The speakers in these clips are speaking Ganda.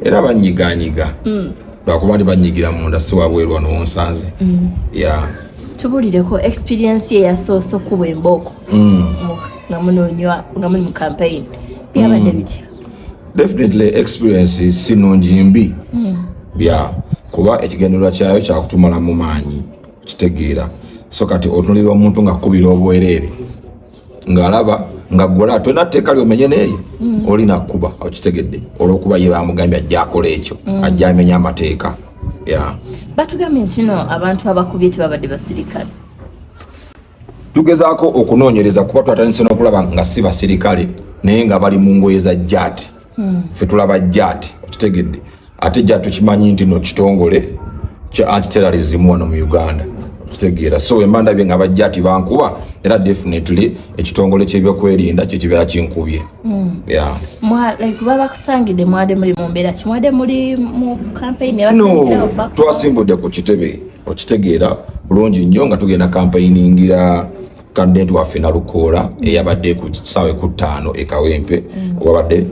era banyiganyiga mm. lwakuba ndi banyigira munda si wabweru wano wonsanze mm. ya tubulireko experience ye yasoose okuba embooko mm. nga munonywa nga muli mu campaign byabadde bitya definitely experience si nungi mbi bya kuba ekigendererwa kyayo kyakutumala mu maanyi kitegeera so kati otunulira omuntu nga kubira obwereere ng'alaba nga gwola tolina tteeka lyomenye neeyo mm. olina kukuba okitegedde olwokuba ye bamugambye ajja akola ekyo mm. ajja amenya amateeka batugambye ntino abantu abakubye tebabadde basirikale tugezaako okunoonyereza kuba twatandise n'okulaba nga si basirikale naye nga bali mu ngoye za jati hmm. fe tulaba jati okitegedde ate jati tukimanyi nti no kitongole kya antiterrorism wano mu uganda tutegeera so wemba ndabye nga bajja ti bankuba era definitely ekitongole kyebyokwerinda kyekibeera kinkubye hmm. twasimbudde ku kitebe okitegeera bulungi nnyo nga tugenda kampayiningira kandidenti waffe nalukoola eyabadde ku kisaawe ku ttaano e kawempe mm. wabadde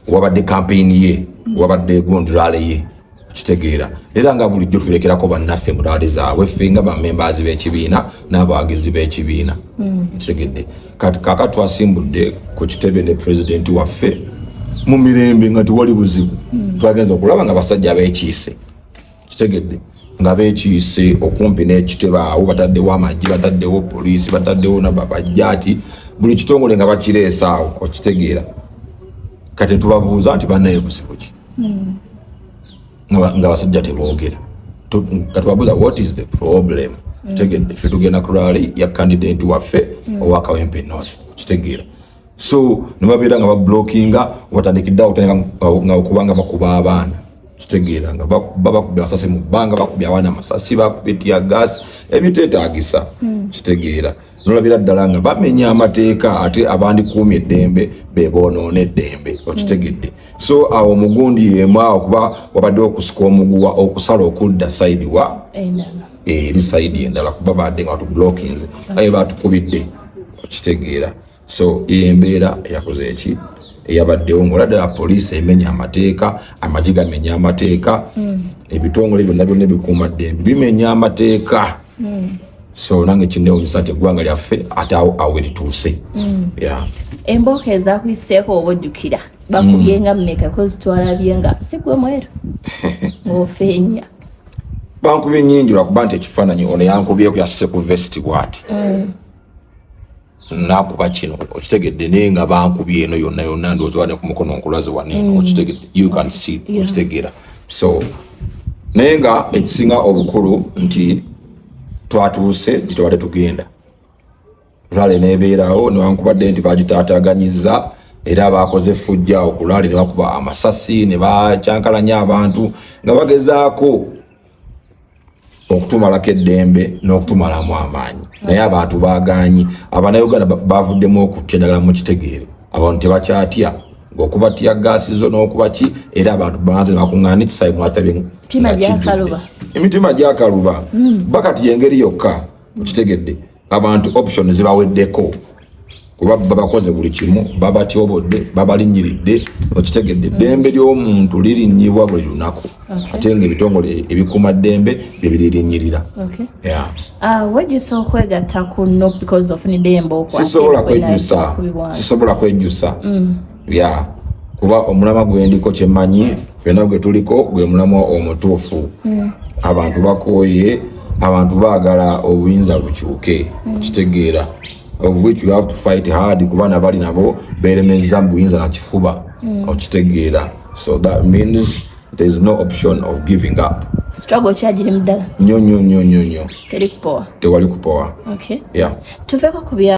wabadde kampeyini ye wabadde gondirale ye kitegeera era nga bulijjo tulekerako bannaffe mu laali zaabwe ffe nga bamembaazi b'ekibiina n'abawagizi b'ekibiina mm. kitegedde kati kaka twasimbudde ku kitebe ne pulezidenti waffe mu mirembe nga tewali buzibu mm. twagenza okulaba nga basajja abekiise kitegedde nga beekiise okumpi n'ekitebe awo bataddewo amagye bataddewo poliisi bataddewo nababajjaati buli kitongole nga bakireesa awo okitegeera kati tubabuuza nti banaye buzibu ki hmm. nga basajja teboogera kati babuuza what is the problem hmm. kitegedde ffe tugenda ku rali ya kandidenti waffe hmm. owakawempe north kitegeera so nibabeera nga bablockinga watandikidde awo tandika nga okubanga bakuba abaana kitegeera nga babakubya amasasi mu bbanga bakubya abaana amasasi bakubya tia gas ebiteetagisa hmm. kitegeera nolabira ddala nga bamenya amateeka ate abandikuumi eddembe bebonoona eddembe okitegedde so awo omugundi yemu awo kuba wabadde okusika omuguwa okusala okudda saidi wa eri saidi endala kuba badde nga batublockinze aye batukubidde okitegeera so embeera yakoze eki eyabaddewo ngaola ddala poliisi emenya amateeka amagi gamenya amateeka mm. ebitongole byonna byonna ebikuuma ddembe bimenya amateeka mm. so nange kinewunyisa nti eggwanga lyaffe ate awo awo erituuse mm. embooko ezakuyiseeko oba ojjukira bakubyenga mumeka kozitwalabye nga sigwe mweru ngaofeenya bankubye nyingi lwakuba nti ekifaananyi ono yankubyeko yasse ku vesti bwati nakuba kino okitegedde naye nga bankubi eno yonna yonna ndozibane ku mukono nkulaze wano eno mm. okitegedde you can see okitegeera so naye nga ekisinga obukulu nti twatuuse nti tewali tugenda rale nebeerawo newankubadde nti bagitaataganyiza era baakoze effujja okulaale ne bakuba amasasi ne bakyankalanya abantu nga bagezaako okutumalako eddembe n'okutumalamu amaanyi naye abantu bagaanyi abanauganda bavuddemu okutya ddala mu kitegeere abantu tebakyatya okuba tya gaasi zo n'okuba ki era abantu banze bakuŋŋaana ekisayi mwatabye emitima gyakaluba hmm. bakati yengeri yokka okitegedde abantu option zibaweddeko kuba babakoze buli kimu babatyobodde babalinyiridde okitegedde eddembe mm. ly'omuntu lirinyibwa buli lunaku ate nga ebitongole ebikuuma ddembe byebiririnyirira ah, wejjusa okwegatta ku no because of nidembe sisobola kwejjusa sisobola kwejjusa mm. yeah. kuba omulama gwendiko kyemanyi fena gwe tuliko gwe mulamwa omutuufu mm. abantu bakooye abantu baagala obuyinza bukyuke mm. kitegeera of which you have to fight hard kuba nabali nabo beremeza mu buyinza na kifuba mm. okitegeera so that means there is no option of giving up struggle kyagiri muddala nyo nyo nyo nyo nyo tewali kupowa okay. yeah. tuveko kubya